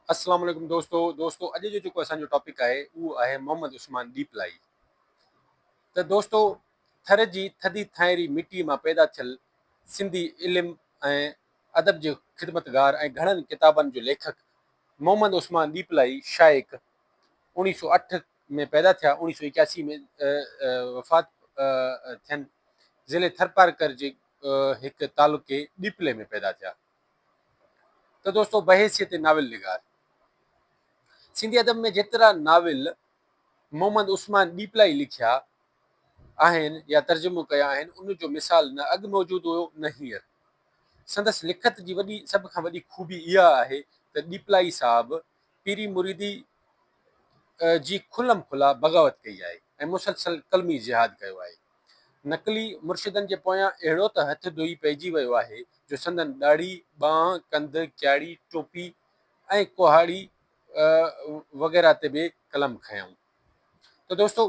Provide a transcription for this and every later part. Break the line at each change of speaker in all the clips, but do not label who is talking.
اسلام عليڪم دوستو دوستو اڄ جو جيڪو اسان جو ٽاپڪ آهي اهو آهي محمد عثمان ڏيپلائي ته دوستو ٿر جي ٿڌي ٿائري مٽي مان پيدا ٿيل سنڌي علم ۽ ادب جو خدمتگار ۽ گهڻن ڪتابن جو ليکڪ محمد عثمان ڏيپلائي شائق اوڻيهه سو اٺ ۾ پيدا ٿيا اوڻيهه سو اڪياسي ۾ وفات ٿين ضلع ٿرپارڪر جي هڪ تعلقي ڏيپلي ۾ پيدا ٿيا ته دوستو بحيثيت ناول نگار سنڌي ادب ۾ جيترا ناول محمد عثمان ڏيپلائي لکيا آهن يا ترجمو ڪيا آهن ان جو مثال نه اڳ موجود هيو نه هينئر سندس لکت جي وڏي سڀ کان وڏي خوبي اها آهي ته ڏيپلائي صاحب پيري مريدي جي کلم کلا بغاوت ڪئي آهي ۽ مسلسل قلمي جهاد ڪيو آهي نقلي مرشدن جي پويان اهڙو ته هٿ ڌوئي پئجي ويو آهي جو سندن ڏاڙهي، ٻانهن، ڪنڌ، ڪياڙي، ٽوپي ۽ ڪهاڙي وغيره تي به قلم کنيائون. ته دوستو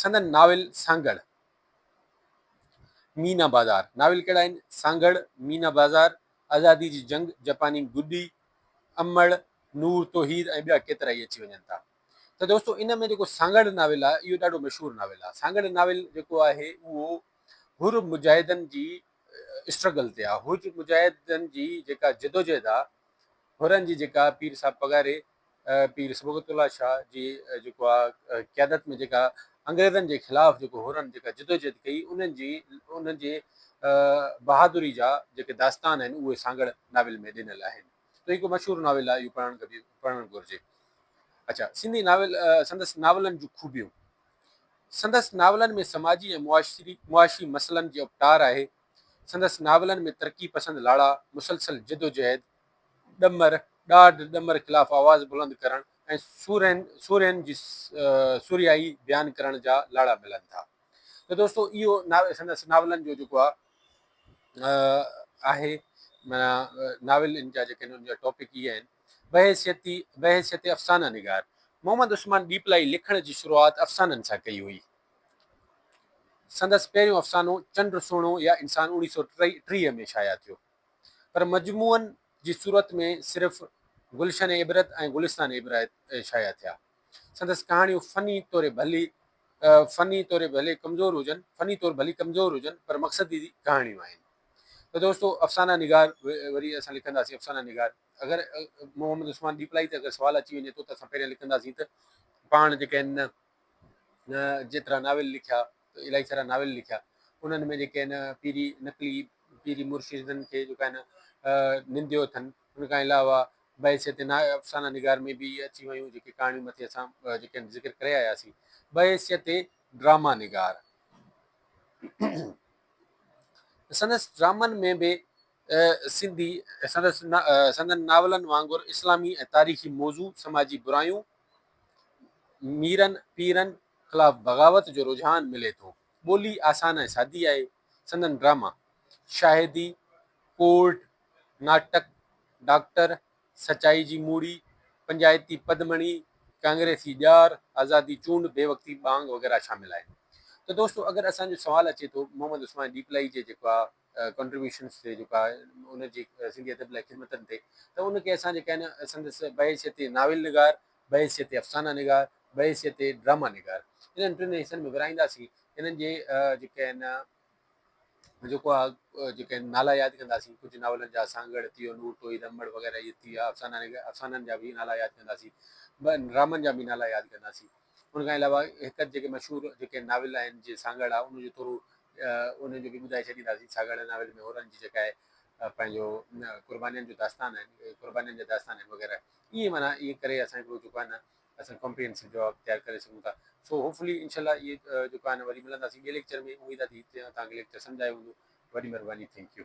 سندن ناول سانگهڙ، مينا بازار، ناول ڪهڙا آهن؟ سانگهڙ، مينا بازار، آزادي جي جنگ، جپاني گڏي، امڙ، نور توحيد ۽ ٻيا ڪيترائي اچي وڃن ٿا. ته دوستو ان ۾ جيڪو سانگهڙ ناول آهي اهو ڏاڍو مشهور ناول آهي. سانگهڙ ناول جيڪو آهي اهو حر مجاهدن جي اسٽرگل تي آهي. حر مجاهدن جي جيڪا جدوجهد آهي حرن جي جيڪا پير صاحب پگهاري پير صبغت الله شاهه جي جيڪو آهي قيادت ۾ جيڪا انگريزن جي خلاف جيڪو حرن جيڪا جدوجهد ڪئي انهن جي انهن جي بهادري جا جيڪي داستان آهن اهي سانگهڙ ناول ۾ ڏنل آهن. ته هڪ مشهور ناول آهي اهو پڙهڻ کپي پڙهڻ گهرجي. اڇا سنڌي ناول سندس ناولن جون خوبيون سندس ناولن ۾ سماجي ۽ معاشري معاشي مسئلن جي اپٽار آهي سندس ناولن ۾ ترقي پسند لاڙا مسلسل جدوجهد ڏمر ڏاڍ ڏمر خلاف آواز بلند ڪرڻ ۽ سورهين سورهين جي سورهيائي بيان ڪرڻ جا لاڙا ملن ٿا ته دوستو اهو سندس ناولن جو جيڪو آهي آهي معنيٰ ناول ان جا جيڪي ان جا ٽاپڪ هي آهن بحيثيتي بحيثيت افسانه نگار محمد عثمان ڏيپلائي لکڻ جي شروعات افسانن سان ڪئي هئي سندس پهريون افسانو چنڊ سهڻو يا انسان اوڻي سو ٽيهه ۾ شايع ٿيو پر مجموعن جي صورت ۾ صرف گلشن عبرت ۽ گلستان عبرت شايع ٿيا سندس ڪهاڻيون فني طور ڀلي فني طور ڀلي ڪمزور هجن فني طور ڀلي ڪمزور هجن پر مقصدي ڪهاڻيون آهن ته دوستو افسانه نگار وري اسان لکنداسين افسانه نگار اگر محمد عثمان ڏيپلائي ته اگر سوال اچي وڃي ٿو ته اسان پهريان لکنداسين ته پاڻ جيڪي آهن نه جيترا ناول لکيا الاهي سارا ناول لکيا انهن ۾ جيڪي آهن پيري نقلي پيري مرشدن کي جيڪا آهن ننديو اٿن ان کان علاوه بحيثيت ناهه افسانه نگار ۾ به اهي اچي ويون جيڪي ڪهاڻيون مٿي اسان جيڪي ذڪر ڪري آياسين. بحيثيت ڊراما نگار سندس ڊرامن ۾ به سنڌي سندس سندن ناولن وانگر اسلامي ۽ تاريخي موضوع، سماجي برايون، ميرن پيرن خلاف بغاوت جو رجحان ملي ٿو. ٻولي آسان ۽ سادي آهي. سندن ڊراما شاهدي، ڪورٽ، ناٽڪ ڊاڪٽر، سچائي جي موڙي، پنجائتي پدمڻي، ڪانگريسي ڄار، آزادي چونڊ، بي وقتي ٻانگ وغيره شامل آهن. ته دوستو اگر اسان جو سوال اچي ٿو محمد عثمان ڏيپلائي جي جيڪو آ ڪنٽريبيوشنس تي جيڪو آ ان جي سنڌي ادب لاء خدمتن تي ته ان کي اسان جي ڪين سندس بحيثيت ناول نگار، بحيثيت افسانه نگار، بحيثيت ڊراما نگار انهن ٽن حصن ۾ ورهائينداسين انهن جي جيڪي آهن جيڪو آ جيڪي نالا ياد ڪنداسين ڪجهه ناولن جا سانگهڙ ٿي ويو، نور ٽوئي رمڙ وغيره اهي ٿي ويا افسانن جا به نالا ياد ڪنداسين ٻين ڊرامن جا به نالا ياد ڪنداسين ان کان علاوه هڪ جيڪي مشهور جيڪي ناول آهن جي سانگهڙ آ ان جو ٿورو ان جو به ٻڌائي ڇڏينداسين سانگهڙ ناول ۾ هورن جي جيڪا آهي پنهنجو قربانين جو داستان آهن قربانين جا داستان آهن وغيره ائين معنيٰ ائين ڪري اسان هڪڙو جيڪو آهي نه اسان ڪمپريهنسو جواب تيار ڪري سگهون ٿا سو هوپفلي انشاء الله اهي جيڪو آهي نه وري ملنداسين ٻئي ليڪچر ۾ اميد آهي ته هتي تهان کي ليڪچر سمجهه آيو هوندو وڏي مھرباني ٿينڪ يو.